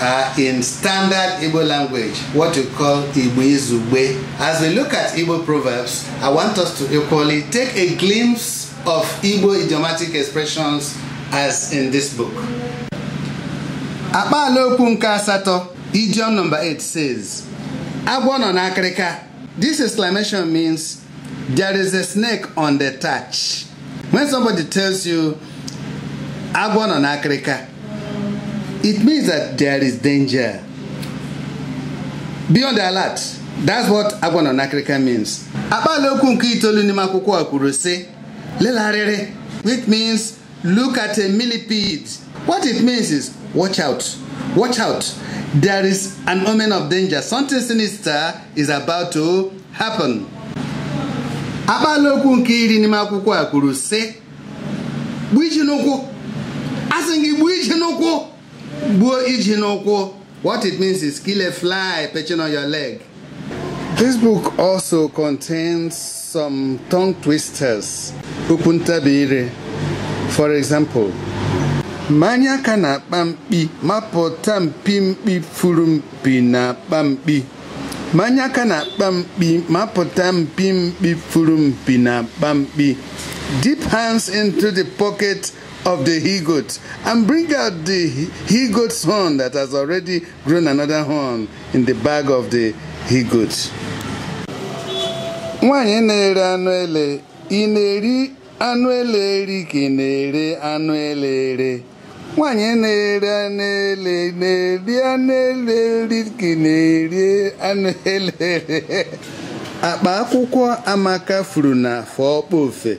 are in standard Igbo language, what you call Igbo Izugbe. As we look at Igbo proverbs, I want us to equally take a glimpse of Igbo idiomatic expressions as in this book. Akpaala okwu nke asatọ, idiom number 8 says, Agwọ nọ n'akịrịka. This exclamation means there is a snake on the thatch when somebody tells you agwọ nọ n'akịrịka it means that there is danger be on alert that's what agwọ nọ n'akịrịka means akpaala okwu nke itoolu n'ime akwụkwọ a kwuru sị lele arịrị which means look at a millipede what it means is watch out watch out there is an omen of danger something sinister is about to happen akpaala okwu nke iri n'ime akwụkwọ a kwuru sị gbuo iji n'ụkwụ a sị gị gbuo iji n'ụkwụ gbuo iji n'ụkwụ what it means is kill a fly perching on your leg This book also contains some tongue twisters, okwu ntabire. For example, manye aka n'akpa mkpi mapụta mpi mkpi furu mpi n'akpa mkpi manye aka n'akpa mkpi mapụta mpi mkpi furu mpi n'akpa mkpi dip hands into the pocket of the he goat and bring out the he goat's horn that has already grown another horn in the bag of the he goat. Nwanyị na-ere anụ ele, ị na-eri anụ ele eri ka ị na-ere anụ ele ere. Nwanyị na-ere anụ ele na-eri anụ ele eri ka ị na-eri anụ ele ere. Akpa akwụkwọ Amaka furu na Afọ Okpofe.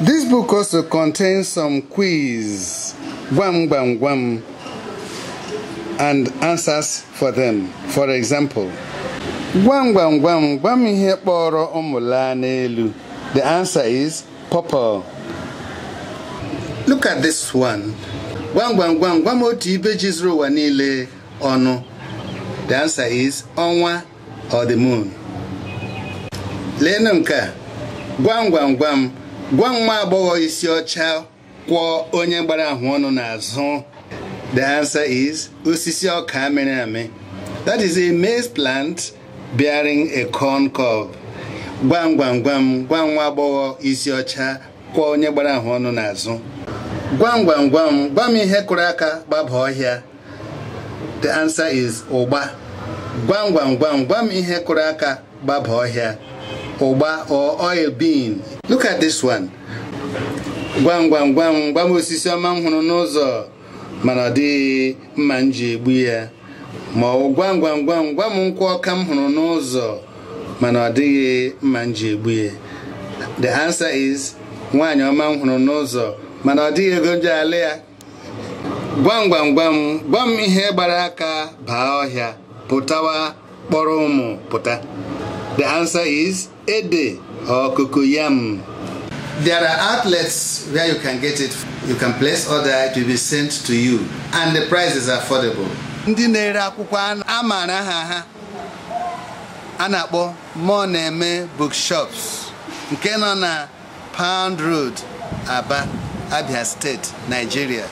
This book also contains some quiz, gwam gwam gwam, and answers for them. For example, gwam gwam gwam gwa m ihe kpọrọ ụmụ laa n'elu. The answer is pawpaw. Look at this one. Gwam gwam gwam gwa m otu ibe ji zuru ụwa niile ọnụ. The answer is ọnwa or the moon leenụ nke a gwam gwam gwam gwa m nwa agbọghọ isi ọcha kwọ onye gbara ahụ ọnụ n'azụ the answer is osisi ọka mịrị amị that is a maize plant bearing a corn cob gwam gwam gwam gwa m nwa agbọghọ isi ọcha kwọ onye gbara ahụ ọnụ n'azụ gwam gwam gwam gwa m ihe kụrụ aka gbaba ọhịa the answer is ụgba gwam gwam gwam gwam ihe kụrụ aka gbaba ọhịa ụgba or oil bean look at this one gwam gwam gwam gwam osisi ọma m hụrụ n'ụzọ mana ọ dịghị mma m ji egbu ya ma ọ gwam gwam gwam gwam nkwụ ọka m hụrụ n'ụzọ mana ọ dịghị mma m ji egbu ya the answer is nwaanyị ọma m hụrụ n'ụzọ mana ọ dịghị ego m ji alụ ya gwam gwam gwam gwam ihe gbara aka baa ọhịa pụtawa kpọrọ ụmụ pụta the answer is ede or cocoyam There are outlets where you can get it. You can place order, it will be sent to you. And the price is affordable. Ndị na-ere akwụkwọ a maara aha ha a na-akpọ Moneme Bookshops nke nọ na Pound Road, Aba, Abia State, Nigeria.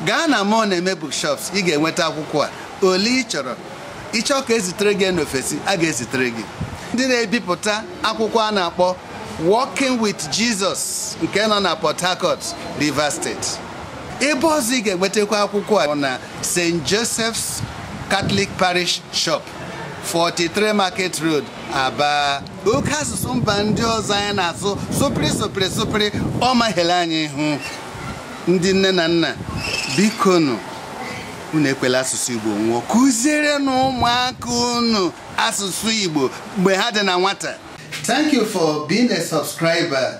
Gaa na Moneme Bookshops ị ga-enweta akwụkwọ a ole ị chọrọ ị chọọ ka e zitere gị n'ofesi a ga-ezitere gị ndị na-ebipụta akwụkwọ a na-akpọ Walking with Jesus nke nọ na Port Harcourt, Rivers State. Ebe ọzọ ị ga-enwetakwa akwụkwọ a bụ na St. Joseph's Catholic Parish Shop, 43 Market Road, Aba. oke asụsụ mba ndị ọzọ anyị na-asụ sụpịrị sụpịrị sụpịrị ọ mahele anyị ihu ndị nne na nna bikonụ unu ekwela asụsụ igbo nwụọ kụzierenụ ụmụaka unu asụsụ igbo mgbe ha dị na nwata thank you for being a subscriber